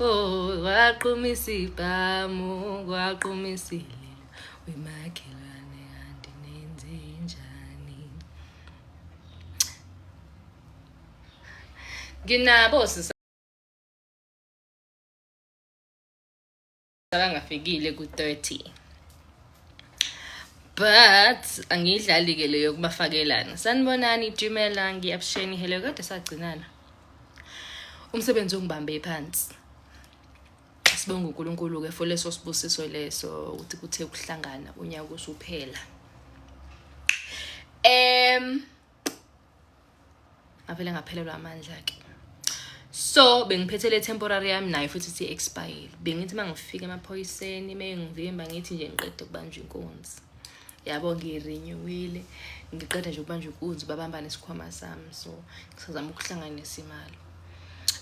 Oh, waqhuma isibhamu, waqhuma isililo, wemakhelwane kanti nenze njani? Nginabo sisa akangafikile ku-30 but angiyidlali-ke leyo kubafakelana sanibonani jimela ngiyabsheni hello kade sagcinana umsebenzi ongibambe phansi sibonga unkulunkulu-ke for leso sibusiso leso ukuthi kuthe kuhlangana unyaka usuphela um ngavele ngaphelelwa amandla ke so bengiphethe le temporary yami nayo futhi si expire bengithi mangifika emaphoyiseni mengivimba ngithi nje ngiqede kubanjwa inkunzi yabo ngirinyiwile ngiqeda nje ukubanjwa inkunzi babamba nesikhwama sami so ngisazama ukuhlanganisa imali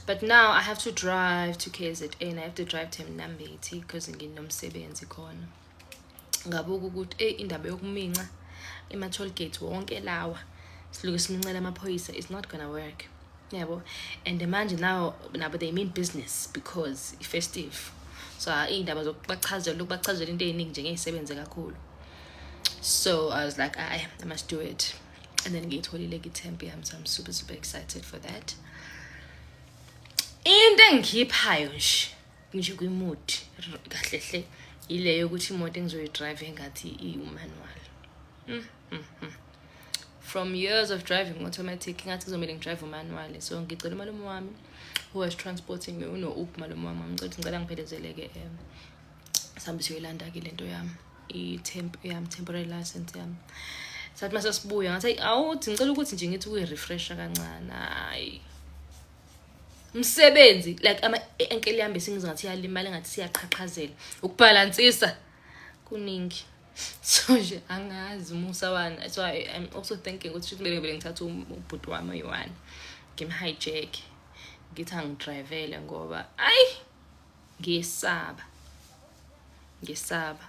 but now i have to drive to kzn i have to drive to mnambethi because nginomsebenzi khona ngabuka ukuthi eyi indaba yokuminca ema-toll gate wonke lawa siluke simincela amaphoyisa is not gonna work yabo and manje nawo nabo they mean business because i-festive so iy'ndaba zokubachazela lokubachazela into ey'ningi nje ngey'sebenze kakhulu so i was like i, I must do it and then ngiyitholile kithempe yami so i'm super super excited for that into engikhiphayo nje ngisho kwi-mood kahle hle yileyo yokuthi imoto engizoyidrive engathi iwumanual mm, mm, mm. from years of driving automatic ngathi kuzomele ngidrive umanual so ngicela umalume wami who was transporting me uno-up malume wami ngicela ukuthi ngicela ngiphelezeleke um sihambe siyoyilanda-ke le nto yami i-temp yami temporary license yami sathi mase sibuya ngathi awuthi ngicela ukuthi nje ngithi ukuyirefresha kancane hayi msebenzi like ama enkele yami besingiza ngathi yalimala ngathi siyaqhaqhazela ukubhalansisa kuningi so nje angazi musa wani so I, i'm also thinking ukuthi shuthi bebe bele ngithatha um, ubhuti wami oyi-one ngimhijack ngithi angidrivele ngoba ayi ngisaba ngisaba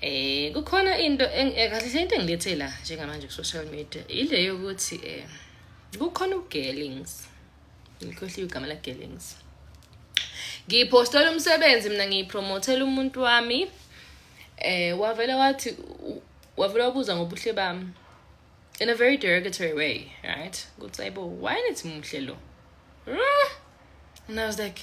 Eh kukhona into eh, kahle hle into engilethe la njengamanje ku social media ile yokuthi eh kukhona ugelings ngikhohliwe igama la gelings ngiphostela umsebenzi mina ngiyipromothela umuntu wami eh wavela wathi wavela wabuza ngobuhle bami in a very derogatory way right ukuthi ayibo why nithi muhle lo and i was like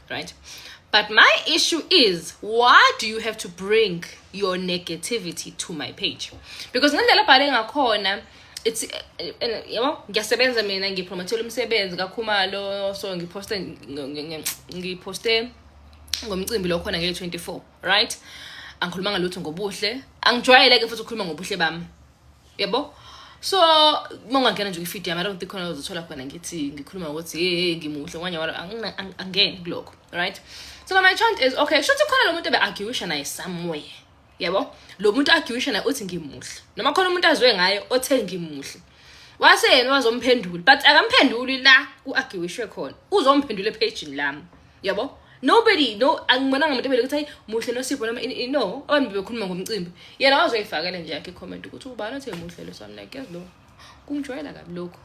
right but my issue is why do you have to bring your negativity to my page because ngendlela abhale ngakhona it's eh, eh, yabo ngiyasebenza mina ngipromothela umsebenzi kakhumalo so ngiposte ngiposte ngomcimbi lo khona ngele-24 right angikhulumanga lutho ngobuhle angijwayele-ke futhi ukukhuluma ngobuhle bami yebo so uma ungangena nje kwifidi yami i don't think khona uzothola khona ngithi ngikhuluma ngokuthi hey hey ngimuhle ngonya walo angingeni kulokho right so my chant is okay kusho ukuthi khona lo muntu ebe-arguisha naye somewhere yebo lo muntu arguisha naye uthi ngimuhle noma khona umuntu azwe ngaye othe ngimuhle wase yena wazomphendula but akamphenduli la ku-arguishwe khona uzomphendula ephejini lami yabo nobody no angibonanga muntu ebele ukuthi hayi muhle nosipho noma ini- no abantu bebekhuluma ngomcimbi yena wazoyifakela nje yakhe icomment ukuthi ubani othe muhle lo so I'm like yazi lo kungijwayela kabi lokho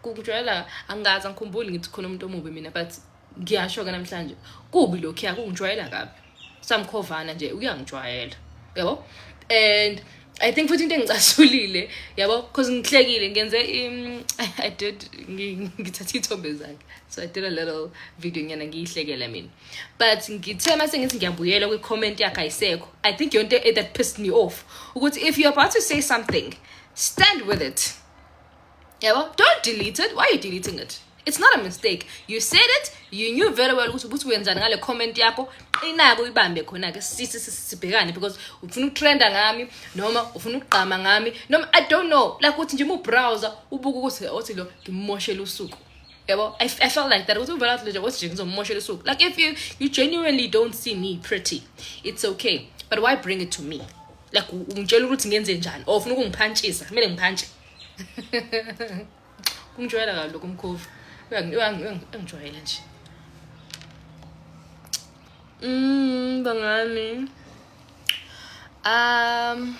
kungijwayela angazi angikhumbuli ngithi khona umuntu omubi mina but ngiyasho-ke namhlanje kubi lokhuya kungijwayela kabi samkhovana nje uyangijwayela yabo and I think futhi into engicasulile yabo because ngihlekile ngenze um, I did ngithatha ithombe zakhe so I did a little video nyana ngiyihlekela mina but ngithe mase ngithi ngiyabuyela kwi comment yakhe ayisekho I think yonto e that pissed me off ukuthi if you're about to say something stand with it yabo don't delete it why are you deleting it it's not a mistake you said it you knew very well ukuthi ukuthi wenzani ngale comment yakho qinako uyibambe khona-ke sisi sibhekane because ufuna ukutrenda ngami noma ufuna ukugqama ngami noma i don't know like ukuthi nje ubrowser ubuke ukuthi othi lo ngimmoshele usuku yabo I, i felt like that ukuthi uvela ukuthi nje othi nje ngizommoshela usuku like if you, you genuinely don't see me pretty it's okay but why bring it to me like ungitshela ukuthi ngenze njani or ufuna ukungiphantshisa kumele ngiphantshise ungijwayela kabi lokho umkhovu engijwayele nje mm bangani um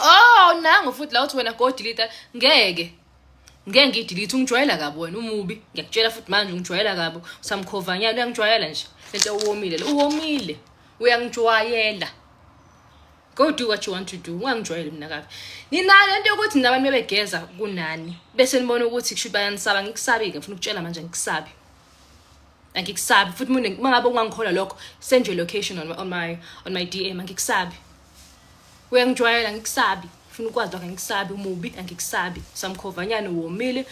oh nangu futhi la uthi wena go delete ngeke ngeke ngidilithe ungijwayela kabi wena umubi ngiyakutshela futhi manje ungijwayela kabi usamkhovanyana uyangijwayela nje lento uwomile uwomile uyangijwayela go do what you want to do ungangijwayeli mina kabi ninayo lento yokuthi nina abantu bebegeza kunani bese nibona ukuthi kusho ukuthi bayanisaba ngikusabi-ke ngifuna ukutshela manje ngikusabi angikusabi futhi mina uma ngabe ungangikholwa lokho send your location on, on my on my dm angikusabi uyangijwayela ngikusabi funa ukwazi lokho angikusabi umubi angikusabi samkhovanyana uwomile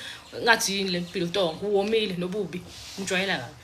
ngathi yini le mpilo tongo uwomile nobubi ngijwayela kabi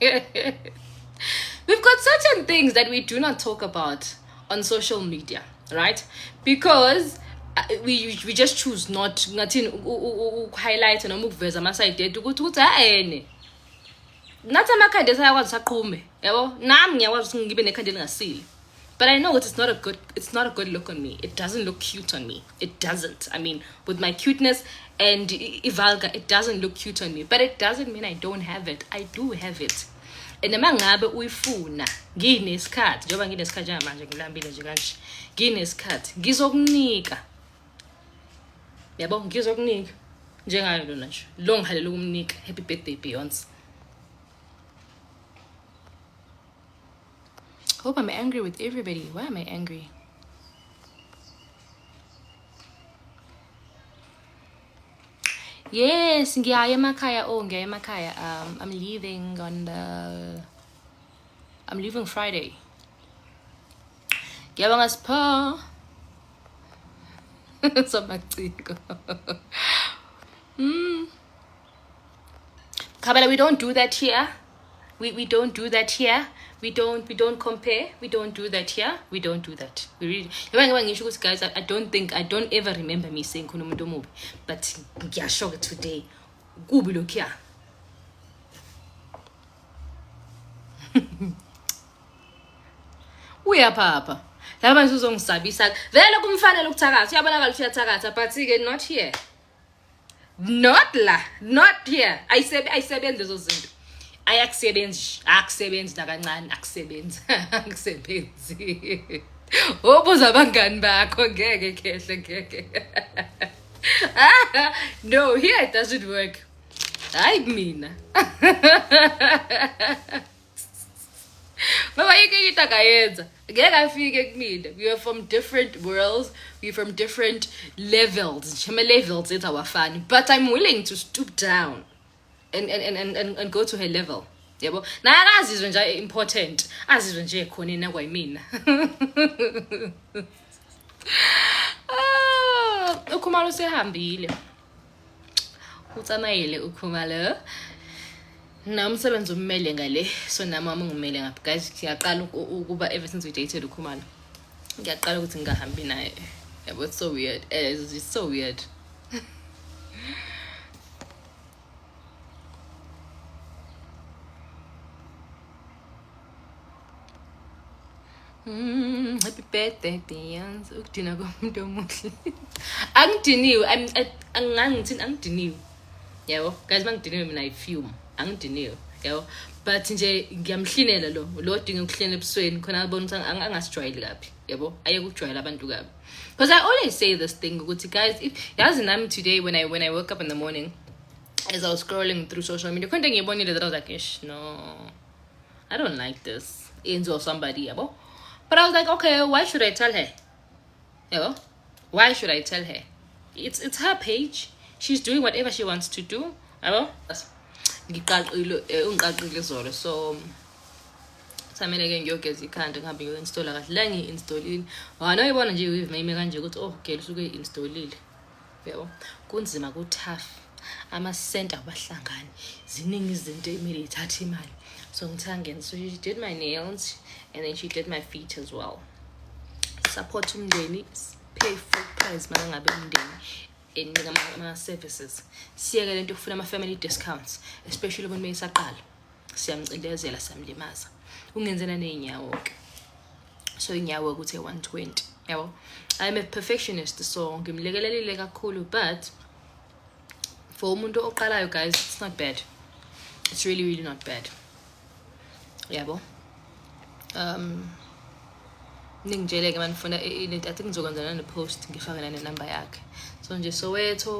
We've got certain things that we do not talk about on social media, right? Because uh, we we just choose not ngathini ukuhighlight noma ukuveza ama side ethu ukuthi ukuthi haene nathi amakhanda esayakwazi saqhume yabo nami ngiyakwazi ukuthi ngibe nekhanda elingasile But I know it's not a good it's not a good look on me. It doesn't look cute on me. It doesn't. I mean, with my cuteness and Ivalga, it doesn't look cute on me. But it doesn't mean I don't have it. I do have it. And uma ngabe uyifuna nginesikhathi njengoba nginesikhathi njengamanje ngilambile nje kanje nginesikhathi ngizokunika yabo ngizokunika njengayo lona nje lo ngihalela ukumnika happy birthday beyonce Hope I'm angry with everybody. Why am I angry? Yes, ngiyaye emakhaya. Oh, ngiyaye emakhaya. Um, I'm leaving on the I'm leaving Friday. Ngiyabonga Sipho. Somaciko. Mm. Kabela, we don't do that here. We, we don't do that here. We don't we don't compare. We don't do that here. We don't do that. We really yabanye ngoba ngisho ukuthi guys I, I don't think I don't ever remember me saying khona umuntu omubi but ngiyasho ke today kubi lokhiya. Uyaphapha. Laba manje uzongisabisa. Vele kumfanele ukuthakatha. Uyabonakala ukuthi uyathakatha but ke not here. not la not here ayisebe ayisebenzi lezo zinto ayakusebenzi akusebenzi nakancane akusebenzi akusebenzi obuza abangani bakho ngeke khehle ngeke no here it doesn't work hayi mina Baba yeke into akayenza ngeke afike kumina we are from different worlds we are from different levels ngisho ama-levels ethu awafani but i'm willing to stoop down and, and, and, and, and, and go to her level yabo naye akazizwe nje important azizwe nje khona yena kwayimina ah, ukhumalo usehambile o tsamaile o khumalo na umsebenzi ummele ngale so nami wami ungimele ngapha guys ngiyaqala ukuba ever since we dated ukhumalo ngiyaqala ukuthi ngingahambi naye yabo it's so weird eh, it's so weird Mm, happy birthday Beyonce. Ukudina komuntu omuhle. Angidiniwe, I'm angangithini angidiniwe. Yabo, guys mangidiniwe mina I fume. Angidiniwe. Yabo. But nje ngiyamhlinela lo. Lo odinga ukuhlena ebusweni khona abona ukuthi angasijwayeli kabi. Yabo, ayeke ukujwayela abantu kabi. Because I always say this thing ukuthi guys, if yazi nami today when I when I woke up in the morning as I was scrolling through social media, khona ngiyibonile that I was like, "Ish, no." I don't like this. Angel or somebody, yeah, but but I was like, okay, why should I tell her? You know, why should I tell her? It's it's her page. She's doing whatever she wants to do. Yabo? Ngiqaqile eh, ungiqaqile izolo so samele ke ngiyogeza ikhanda ngihambe ngiyoinstalla kahle la ngiyi-installile wanoyibona nje i-wave mayime kanje ukuthi oh gel usuke i-installile yebo kunzima ku tough ama center abahlangani ziningi izinto emile ithatha imali so ngithe angena so she did my nails and then she did my feet as well support umndeni pay full price uma ngabe umndeni enika ama-services siyeke le nto yokufuna ama-family discounts especially umuntu uma isaqala siyamcindezela siyamlimaza ungenzela ney'nyawo-ke so inyawo ukuthi 120 yabo i'm a perfectionist so ngimlekelelile kakhulu but for umuntu oqalayo guys it's not bad it's really really not bad yabo um ningitshele-ke manifuna i-unit i think ngizokwenza nane-post ngifake nane-number yakhe so nje soweto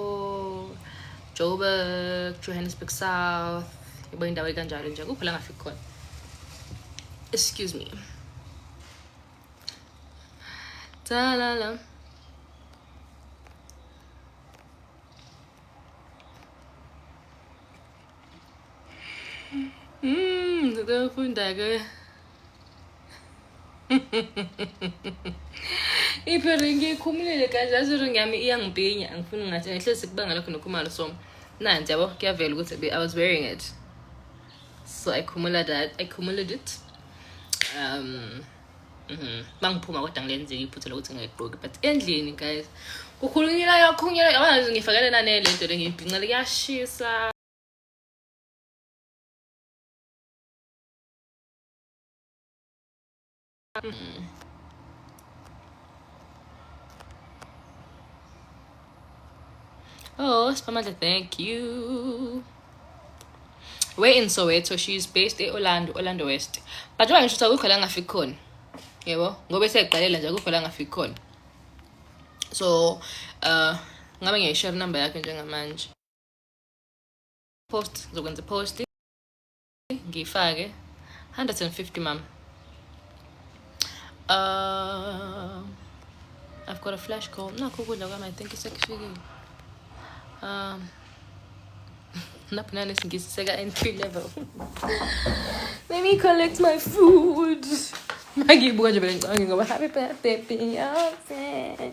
Joburg, Johannesburg South, yabo indawo ekanjalo nje kuphi la ngafiki khona. Excuse me. Talala. Mmm, ngizofunda ke. iphela ngiyikhumulile kanje azuri ngami iyangipinya angifuni ngathi ngehlezi sikubanga lokho nokhumalo so nanti yabo kuyavela ukuthi i was wearing it so i khumula that i khumuled it um mhm. bangiphuma kodwa ngilenzile iphutha lokuthi ngayigqoki but endlini guys kukhulunyelwa yakhunyelwa yabona nje ngifakele nanele nto le ngiyibhincele kuyashisa Oh, Spamada, thank you. We're in Soweto. She's based in Orlando, Orlando West. But why should I go khona ngafiki khona? Yebo, ngoba seqalela nje akukho la ngafiki khona. So, uh ngabe ngiyayishare number yakhe njengamanje. Post, zokwenza post. ngiyifake 150 mama uh, I've got a flash call nakho ukudla kwami I think isekufikile um naphina nesingisi seka entry level let me collect my food mangiyibuka nje bele ngicabanga ngoba happy birthday beyonce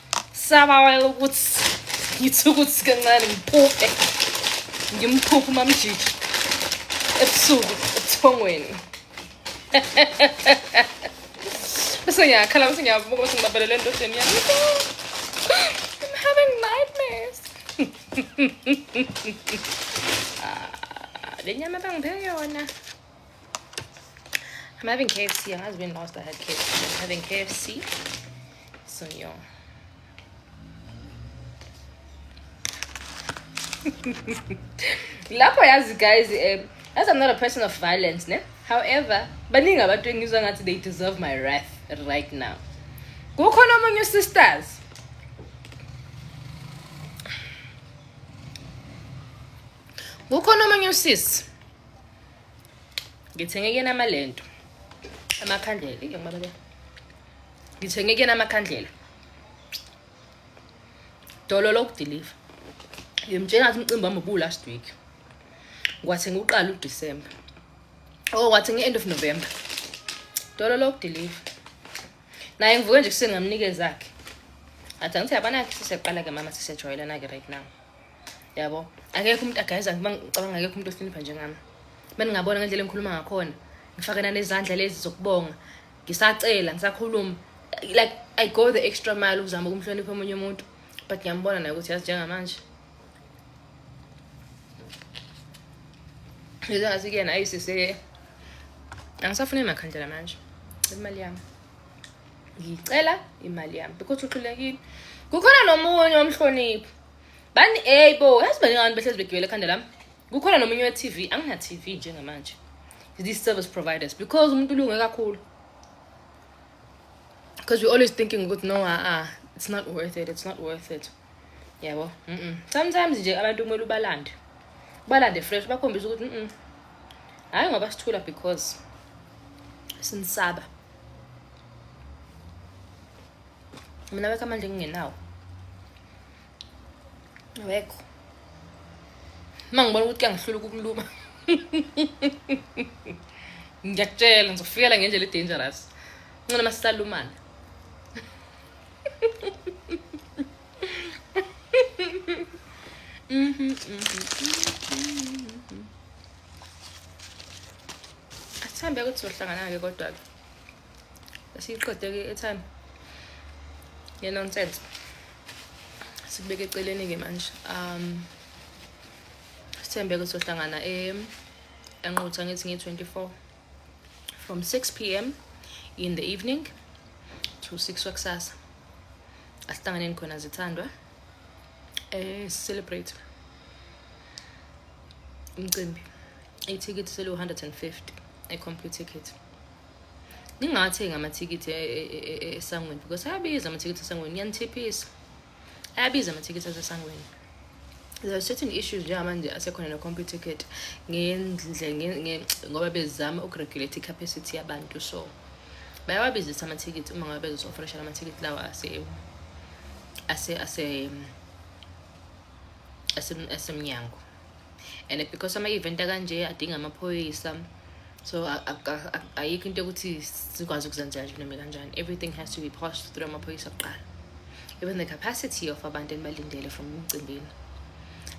sabawela ukuthi ngithi ukuthi kancane ngiphuphe ngimphuphe umamjiji ebusuku ebuthongweni bese ngiyakhala bese ngiyavuka bese ngibabelele endodeni yami I'm having nightmares ah, le nyama bangiphe yona I'm having KFC. I has been last I had KFC. I'm having KFC. So yeah. lapho yazi guys um as i'm not a person of violence ne however baningi abantu engizwa ngathi they deserve my wrath right now kukhona omunye sisters kukhona omunye usisi ngithenge kuyena amalento amakhandlela ngiyamabala ngithenge kuyena amakhandlela dolo lokudeliver ngimtshela ukuthi umcimbi wami ubu last week ngwathenga uqala uDecember oh ngwathenga end of November dolo lokudeliver naye ngivuke nje kuseni ngamnikeza zakhe athi angithi yabanakhe sisiyaqala ke mama sisiyajwayelana ke right now yabo akekho umuntu agayiza ngiba ngicabanga akekho umuntu ohlonipha njengami uma ningabona ngendlela engikhuluma ngakhona ngifakana nezandla lezi zokubonga ngisacela ngisakhuluma like i go the extra mile ukuzama ukumhlonipha omunye umuntu but ngiyambona naye ukuthi yazi njengamanje ngizangathi kuyena ayisise angisafune makhandlela manje imali yami ngicela imali yami because uxulekile kukhona nomunye omhloniphi bani ey bo yazi baningi abantu behlezi begibela ekhanda lami kukhona nomunye we-tv angina-tv njengamanje these service providers because umuntu ulunge kakhulu because we're always thinking ukuthi no a-a it's not worth it it's not worth it yabo mm -mm. sometimes nje abantu kumele ubalande ubalande fresh bakhombisa ukuthi mm hhayi ngoba sithula because sinisaba mina wekho amandla engingenawo wekho uma ngibona ukuthi kuyangihlula ukukuluma ngiyakutshela ngizofikela ngendlela edangerous ncona uma sisalumana Asithambe ukuthi sohlangana-ke kodwa-ke siyiqede-ke etime ngenonsense sikubeke eceleni-ke manje um sithembe-ke sohlangana enqutha ngithi ngiyi-twenty-four from 6 pm in the evening to 6 wakusasa asihlanganeni khona zithandwa eh celebrate umcimbi ithikithi selu-150 e-complete ticket ningathengi amathikithi esangweni because ayabiza amathikithi esangweni niyanithephisa ayabiza amathikithi asesangweni there are certain issues njengamanje asekhona no-computer ticket ngendle ngoba bezama ukuregulate i-capacity yabantu so bayawabizisa amathikithi uma ngabe bezosi-ofresha la mathikithi lawa ase ase ase asemnyango and because ama-event akanje adinga amaphoyisa so ayikho into yokuthi sikwazi ukuzenzela nje noma kanjani everything has to be passed through amaphoyisa kuqala even the capacity of abantu enibalindele from emcimbini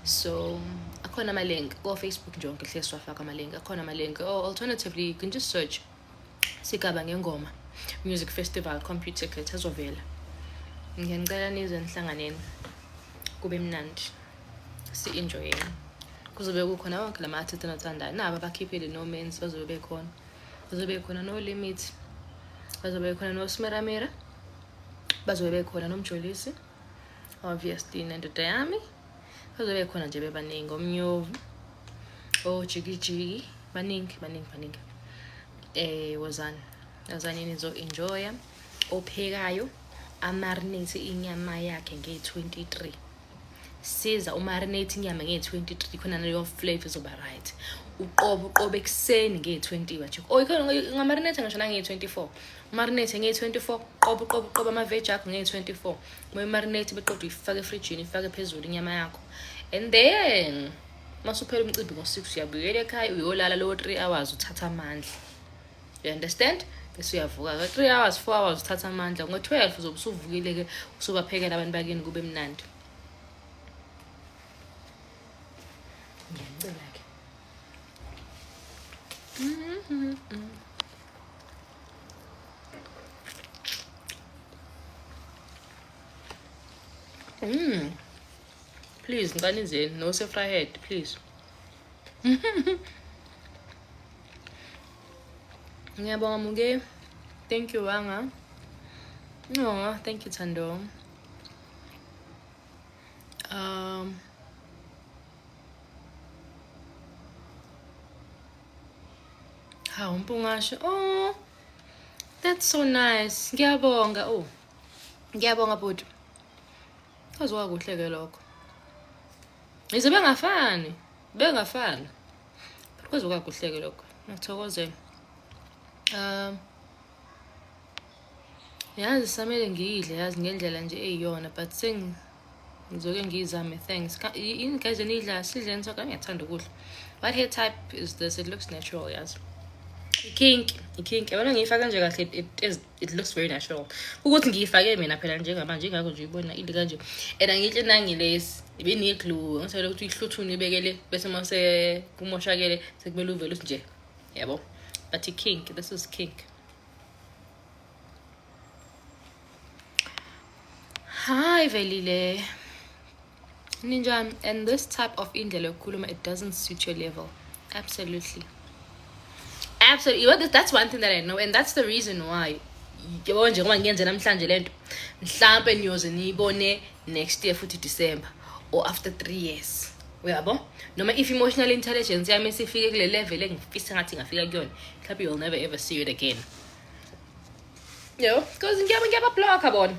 so akhona amalink kofacebook nje onke hle siwafaka amalink akhona amalink or oh, alternatively you can just search sigaba ngengoma music festival computer klet azovela ngiyanicela nize enhlanganeni kube mnandi si-enjoyeni kuzobe kukhona wonke lama artist enathandayo nabo abakhiphile no mens bazobe bekhona bazobe bekhona no limit bazobe bekhona no smeramera bazobe bekhona nomjolisi obviously nendoda yami bazobe bekhona nje bebaningi omnyovu ojikijiki baningi baningi baningi eh wozani wozani nizo-enjoya ophekayo amarinate inyama yakhe nge-23 siza umarinate inyama nge-23 khona leyo flavor izoba right uqobo uqobo ekuseni nge-20 wajik o ngamarinate ngisho nange-24 umarinate nge-24 qobo qobo qobo amaveji akho nge-24 uma imarinate beqoda uyifake efrijini ifake phezulu inyama yakho and then masuphela umcimbi ngo-six uyabuyela ekhaya uyolala lowo three hours uthatha amandla you understand bese uyavuka ka-three hours four hours uthatha amandla ngo-twelve uzobe usuvukile-ke usubaphekela abantu bakini kube mnandi ngiyanicela-ke Mm. Please, ngani zeni, no sefrahead, please. ngiyabonga muke thank you wanga no thank you thando um hawu mpungasho oh that's so nice ngiyabonga oh ngiyabonga bhuti kwaziwa kuhle ke lokho yize bengafani bengafani kuzokakuhleke lokho ngithokozela um yazi samele ngiyidle yazi ngendlela nje eyiyona but sengizoke ngiyizame thanks yini guys eniyidla sidleni so kangiyathanda ukudla but hair type is this it looks natural yazi ikinki ikinki yabona ngiyifaka nje kahle it looks very natural ukuthi ngiyifake mina phela njengamanje ingakho nje uyibona into kanje and angihle nangilesi ibe ne-glue ngisele ukuthi uyihluthune ibekele bese uma sekumoshakele sekumele uvele uthi nje yabo but i-kink this is kink hayi velile Ninjani? And this type of indlela yokukhuluma it doesn't suit your level. Absolutely. Absolutely. Well, that's one thing that I know and that's the reason why yabo nje ngoba ngiyenze namhlanje lento mhlampe niyoze niyibone next year futhi December or after 3 years. Uyabo? Noma if emotional intelligence yami sifike kule level engifisa ngathi ngafika kuyona, mhlampe you'll never ever see it again. Yo, because ngiyaba ngiyaba block bona.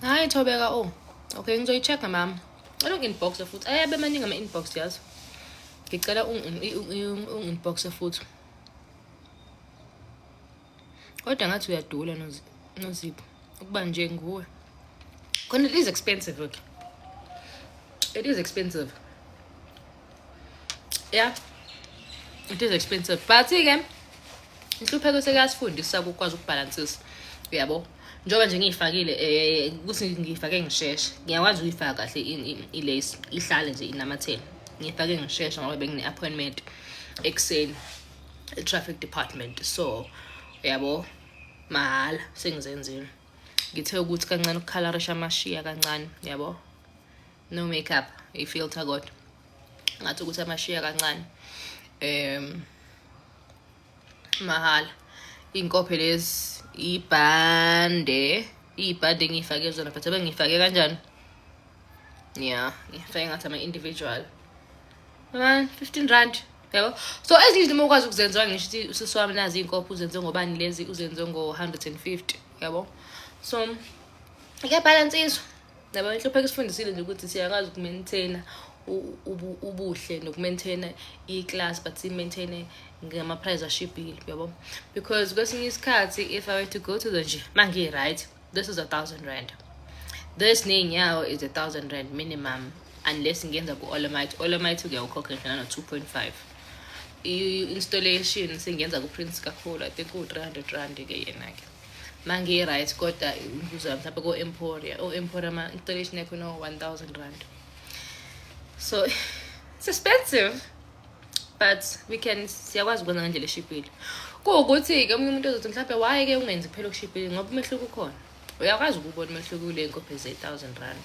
hayi thobeka o oh. okay ngizoyi-check-a mama cela ungi-inboxe futhi ayabe amaningi ama-inbox yazi ngicela ungi-inboxe futhi kodwa ngathi uyadula nozipho ukuba nje nguwe khona it is expensive okay it is expensive ya it is expensive but-ke inhlupheko sekuyasifundisa ukukwazi ukubhalansisa uyabo njengoba nje ngiyifakile um ukuthi ngiyifake ngisheshe ngiyakwazi ukuyifaka kahle ilace ihlale nje inamathela ngiyifake ngisheshe ngoba bengine-appointment ekuseni e-traffic department so uyabo mahhala sengizenzile ngithe ukuthi kancane ukukhalarisha amashiya kancane yabo no makeup i filter kodwa ngathi ukuthi amashiya kancane um mahhala iy'nkophe lezi ibhande iy'bhande engiyifake zona but abengiyifake kanjani ya ngifake ngathi ama-individual fifteen rand yabo so ezinye izinto uma ukwazi ukuzenziwa ngisho ukuthi usisi wami nazi iy'nkophe uzenze ngobani lezi uzenze ngo-hundred and fifty yabo so kuyabhalansiswa Naba inhlupheko isifundisile nje ukuthi siyakwazi ukumaintaina ubuhle nokumaintaina i-class but simaintaine ngama-prize ashibhile uyabo because kwesinye isikhathi if i were to go to the gym ma ngiyi-right this is a thousand rand this ney'nyawo is a thousand rand minimum unless ngenza ku-olomite olomite uyawukhokha ngena no-two point five i-installation sengenza ku-prince kakhulu i think uwu-three hundred rand-ke yena-ke mangiyi-right kodwa umvuzo wami mhlawumbe ko-emporia o-emporia oh, ma-installation yakho no-one thousand rand so it's expensive but we can siyakwazi ukwenza ngendlela eshibhile kuwukuthi-ke omunye umuntu ozothi mhlawumbe why-ke ungenzi kuphela okushibhile ngoba umehluko ukhona uyakwazi ukubona umehluko kule nkophe ze-thousand rand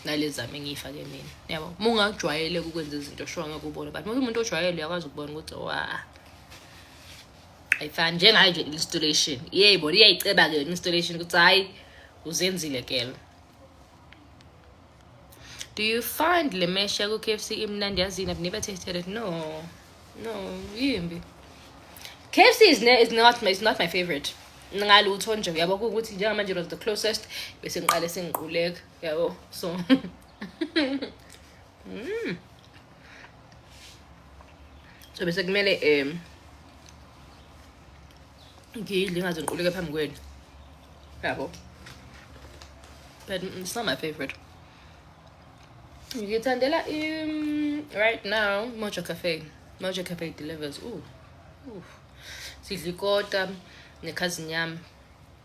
nalezami engiyifake mina yabo uma ungajwayeleka ukwenza izinto shuwa ngeke ubone but uma umuntu ojwayele uyakwazi ukubona ukuthi wa ayifana njengayo nje installation yebo liyayiceba ke installation ukuthi hayi uzenzile kelo do you find le mesha ku KFC imnandi yazini i've never tasted it no no yimbi KFC is, ne, is not is not my favorite ngalutho nje uyabo ukuthi njengamanje was the closest bese ngiqale sengiquleka yabo so mm. so bese kumele um ngiyidle ingaze ngiquleke phambi kwenu yabo but mm, it's not my favorite ngithandela im right now mojo cafe mojo cafe delivers ooh, ooh. sidla ikota nekhazini yami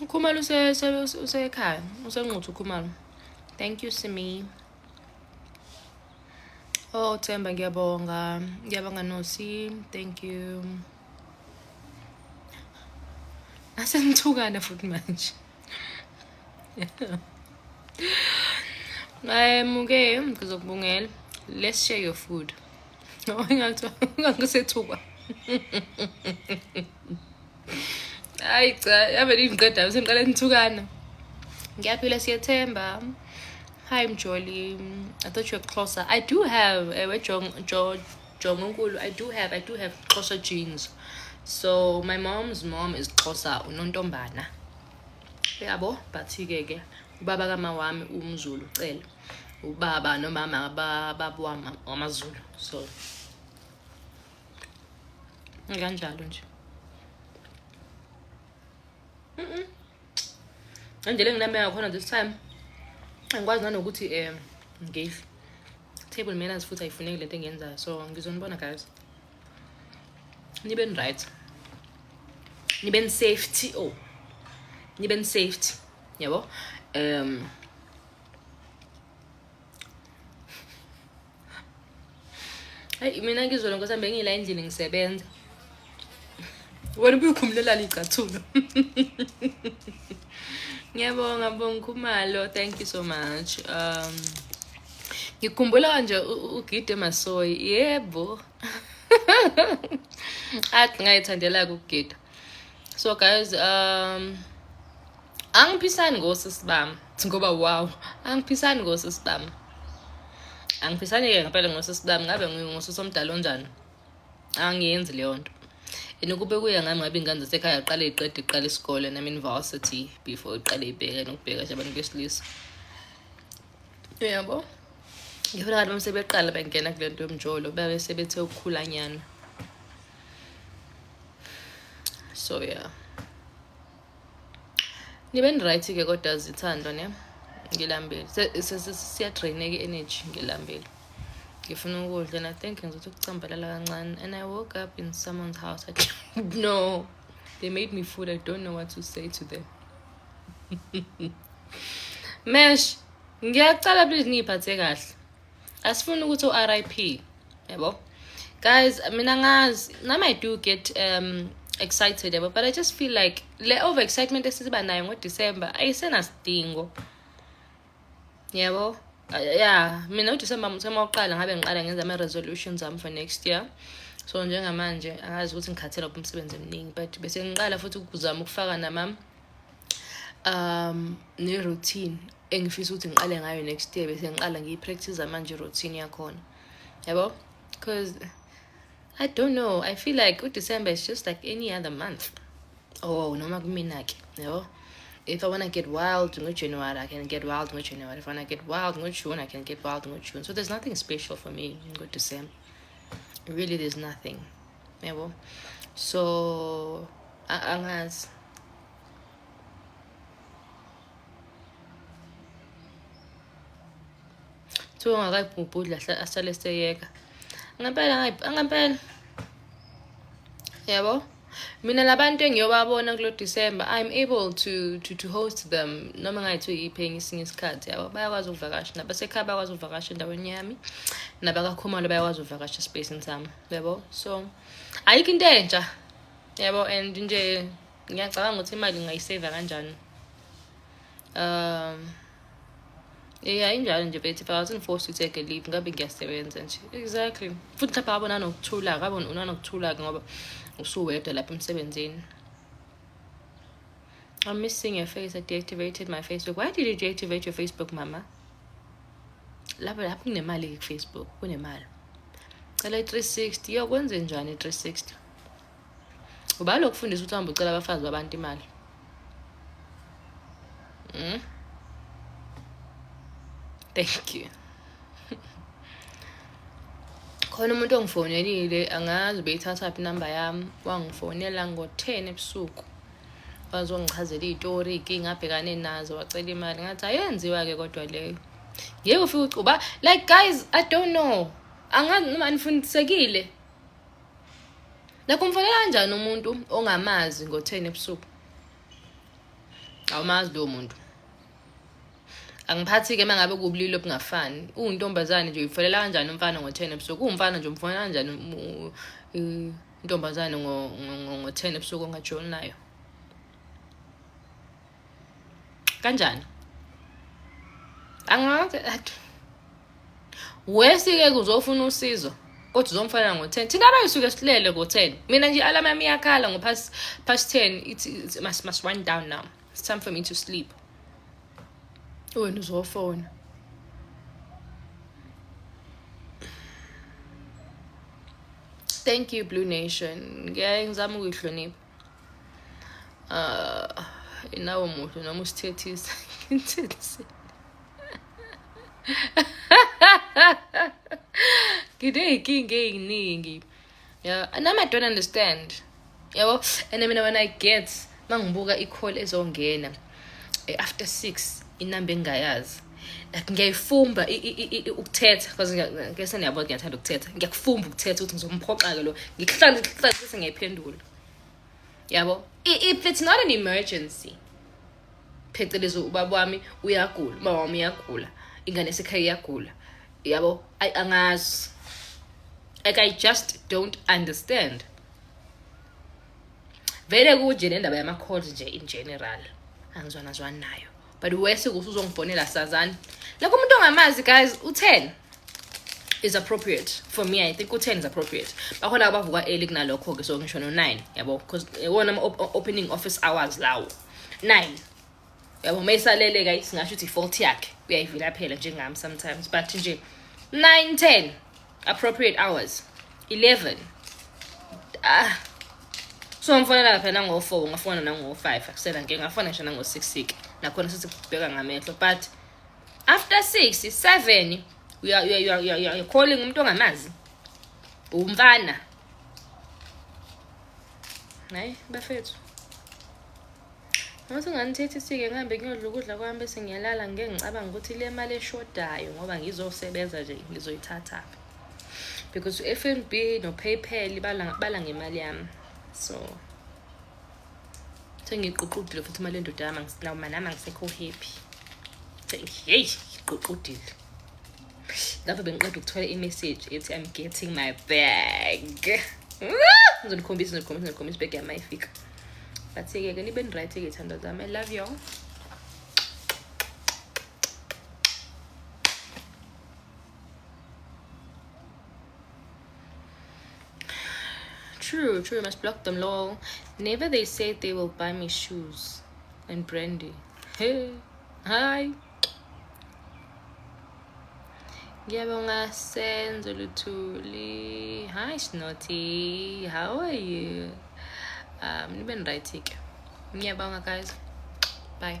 ukhumalo usekhaya usenquthu ukhumalo thank you simi oh themba ngiyabonga ngiyabonga nosi thank you asenithukana futhi manje ngayemuke ngizokubongela let's share your food no ingathi ungangisethukwa hayi cha yavele ingiqedayo sengiqale ngithukana ngiyaphila siyethemba hi mjoli i thought you're closer i do have ewe jongonkulu i do have i do have xhosa jeans so my mom's mom is xhosa unontombana yabo but-ke ke ubaba kama wami umzulu ucele ubaba nomama babawamazulu so kanjalo nje indlela enginameka khona this time angikwazi nanokuthi um ngidle table manners futhi ayifuneki lento engiyenzayo so ngizonibona guys niben right niben safety oh niben safety yabo um Hey mina ngizwe lonke sambe ngila endlini ngisebenza. Wena ubukhumulelana igcathulo. Ngiyabonga Bonga Khumalo, thank you so much. Um ngikhumbula kanje ugide masoyi. Yebo. Athi ngayithandela ukugida. So guys, um angiphisani ngosisi bami ngoba wow angiphisani ngosisi bami angiphisani-ke ngempela ngosisi bami ngabe ngingosisi omdala onjani angiyenzi leyo nto and ukube kuya ngami ngabe ingane zasekhaya qale iqede iqala isikole and I'm in varsity before iqale ibheke nokubheka nje abantu besilisa uyabo ngifuna kanti uma sebeqala bengena kule nto yomjolo babe sebethe ukukhulanyana so yeah ngibe ngiryt ke kodwa zithandwa ne ngilambile siyadraineka i-energy ngilambile ngifuna ukudla and i think ngizothi ukucambalala kancane and i woke up in someone's house I, no they made me food i don't know what to say to them mesh ngiyacala please ngiyiphathe kahle asifuni ukuthi u-rip yabo guys mina ngazi nami i do get um excited yabo but i just feel like le over excitement esiba nayo ngodecember ayisenasidingo yabo ya mina udecember mthema wokuqala ngabe ngiqala ngenza ama-resolutions ami for next year so njengamanje angazi ukuthi ngikhathela kuphi umsebenzi eminingi but bese ngiqala futhi ukuzama ukufaka namam um ne-routine engifisa ukuthi ngiqale ngayo next year bese ngiqala ngiyi-practice manje i-routine yakhona yabo because i don't know i feel like udecember is just like any other month oh noma kumina-ke yabo if I want to get wild in January, I can get wild in January. If I want to get wild in June, I can get wild in June. So there's nothing special for me in December. Really, there's nothing. yabo so angazi kuthiwa ungakayibhubhudli asale seyeka ngempela ngempela yabo mina labantu engiyobabona kulo december i'm able to, to, to host them noma ngayithi uyiphi enye isinye isikhathi yabo bayakwazi ukuvakasha nabasekhaya bayakwazi ukuvakasha endaweni yami nabakakhumalo bayakwazi ukuvakasha esipacini sami yabo so ayikho into entsha yabo and nje ngiyacabanga ukuthi imali ngingayiseva kanjani um ya injalo nje bethi but i wasn't forced to take a leave ngabe ngiyasebenza nje exactly futhi lapha abona nokuthula kabe unanokuthula-ke ngoba usuwedwa lapha emsebenzini I'm missing your face. I deactivated my Facebook. Why did you deactivate your Facebook, mama? Lapho lapho kunemali ku-Facebook, kunemali. Cela i-360. Yo kwenze njani i-360? Uba lokufundisa ukuthi uhambe ucela abafazi babantu imali. Mm? Thank you. khona umuntu ongifonelile angazi beyithathaphi inamba yami wangifonela ngo-ten ebusuku wazongichazela iy'tori iy'nkinga abhekane nazo wacela imali ngathi ayenziwa-ke kodwa leyo ngeke ufike ucuba like guys i don't know angazi noma anifundisekile nakho umfonela kanjani umuntu ongamazi ngo-ten ebusuku awumazi lowo muntu angiphathi-ke uma ngabe kubulili obungafani uwuntombazane nje uyifonela kanjani umfana ngo-ten ebusuku uwumfana nje umfonela kanjani intombazane ngo-ten ebusuku ongajoli nayo kanjani angazi wesi-ke kuzofuna usizo kodwa uzomfana ngo-ten thina abayisuke silele ngo-ten mina nje alama yami iyakhala ngo-past past ten ithi must, must wind down now it's time for me to sleep wena uzofona Thank you Blue Nation. Ngiyaye ngizama ukuyihlonipha. Uh, inawo muhle noma usithethisa ngithethise. Ngide inkinga eyiningi. Yeah, and I don't understand. yabo and mina when i get mangibuka i-call ezongena eh, after six inamba engingayazi like ngiyayifumba ukuthetha because ngese niyabo ngiyathanda ukuthetha ngiyakufumba ukuthetha ukuthi ngizomphoxa-ke lo ngikuhlale ngikuhlale bese ngiyayiphendula yabo if it's not an emergency phecelezi ubaba wami uyagula ubaba wami uyagula ingane yasekhaya iyagula yabo ayi angazi like i just don't understand vele kunje le ndaba yama-calls nje in general angizwanazwani nayo but wese kuthi uzongifonela sazani like umuntu ongamazi guys u-ten is appropriate for me i think u-ten is appropriate bakhona abavuka early kunalokho-ke so ngisho no-nine yabo because iwona eh, ama-opening office hours lawo nine yabo uma isaleleka singasho ukuthi i-fault yakhe uyayivilaphela njengami sometimes but nje nine ten appropriate hours eleven ah so ngifonela lapha nango-four ngafona nango-five akusela nke ngafona ngisho nango-six sik nakhona sesibheka ngamehlo but after six seven you're calling umuntu ongamazi umfana hayi bafethu ngathi unganithethi sike ngihambe kuyodla ukudla kwami bese ngiyalala ngike ngicabanga ukuthi le mali eshodayo ngoba ngizosebenza nje ngizoyithathaphi because u-f n b no-paypal bala, bala ngemali yami so sengiyiququdile futhi imali endoda yami nami angisekho happy yeyi ngiyiququdile lapho bengiqeda ukuthola i-message ethi i'm getting my bag ngizonikhombisa ngizonikhombisa ngizonikhombisa ibag yami ayifika but-ke ke nibe ni-right-ke iy'thando zami i love y'all True, true. You must block them, lol. Never they said they will buy me shoes and brandy. Hey, hi. Ngiyabonga Senzo Luthuli. Hi Snotty, how are you? Um, nibe right ke. Ngiyabonga guys. Bye.